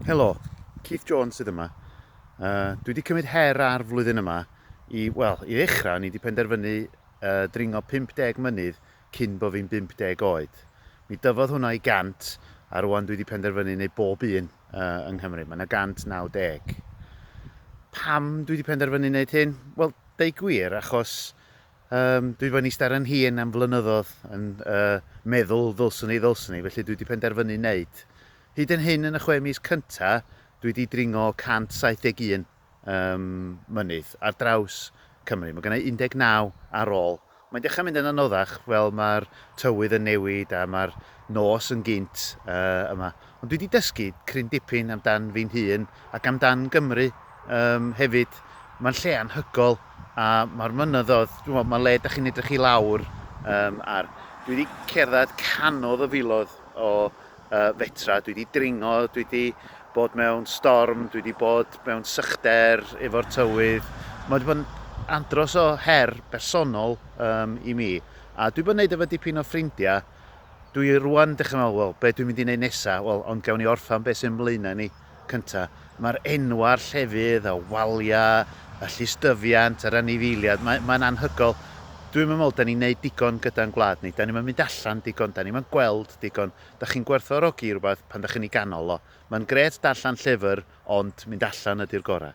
Helo, Keith Jones sydd yma. Uh, dwi wedi cymryd her ar flwyddyn yma i, wel, i ddechrau, ni wedi penderfynu uh, dringo 50 mynydd cyn bod fi'n 50 oed. Mi dyfodd hwnna i 100 a rwan dwi wedi penderfynu neu bob un uh, yng Nghymru. Mae yna 190. Pam dwi wedi penderfynu wneud hyn? Wel, deu gwir, achos Yym, dwi 'di bod yn ista ar 'yn hun am flynyddodd yn, yy, meddwl ddylswn i, ddylswn i, felly dwi 'di penderfynu neud. Hyd yn hyn yn y chwe mis cynta, dwi 'di dringo 171, yym, mynydd ar draws Cymru. Ma' gynna i 19 ar ôl. Mae'n dechra mynd yn anoddach, wel ma'r tywydd yn newid a ma'r nos yn gynt, yy, yma. Ond dwi 'di dysgu cryn dipyn amdan fi'n hun ac amdan Gymru yym hefyd. Mae'n lle anhygoel a mae'r mynyddoedd, ch'mod, mae le 'dach chi'n edrych i lawr yym ar. Dwi 'di cerdded canoedd o filoedd o yy fetra, dwi 'di dringo, dwi 'di bod mewn storm, dwi 'di bod mewn sychder efo'r tywydd. Mae 'di bod yn andros o her bersonol yym i mi a dwi 'di bod yn neud efo dipyn o ffrindia Dwi rŵan dechra me'wl, wel, be' dwi'n mynd i neud nesa? Wel, ond gawn ni orffan be' sy o'n blaena' ni cynta'. Ma'r enwa' a'r llefydd, y walia', y llusdyfiant, yr anifeiliad, mae, mae'n anhygol. Dwi'm yn me'wl 'dan ni'n neud digon gyda'n gwlad ni. 'Dan ni'm yn mynd allan digon, 'dan ni'm yn gweld digon. Dach chi'n gwerthfawrogi rwbath pan dach chi'n 'i ganol o. Ma'n grêt darllan llyfr, ond mynd allan ydi'r gora'.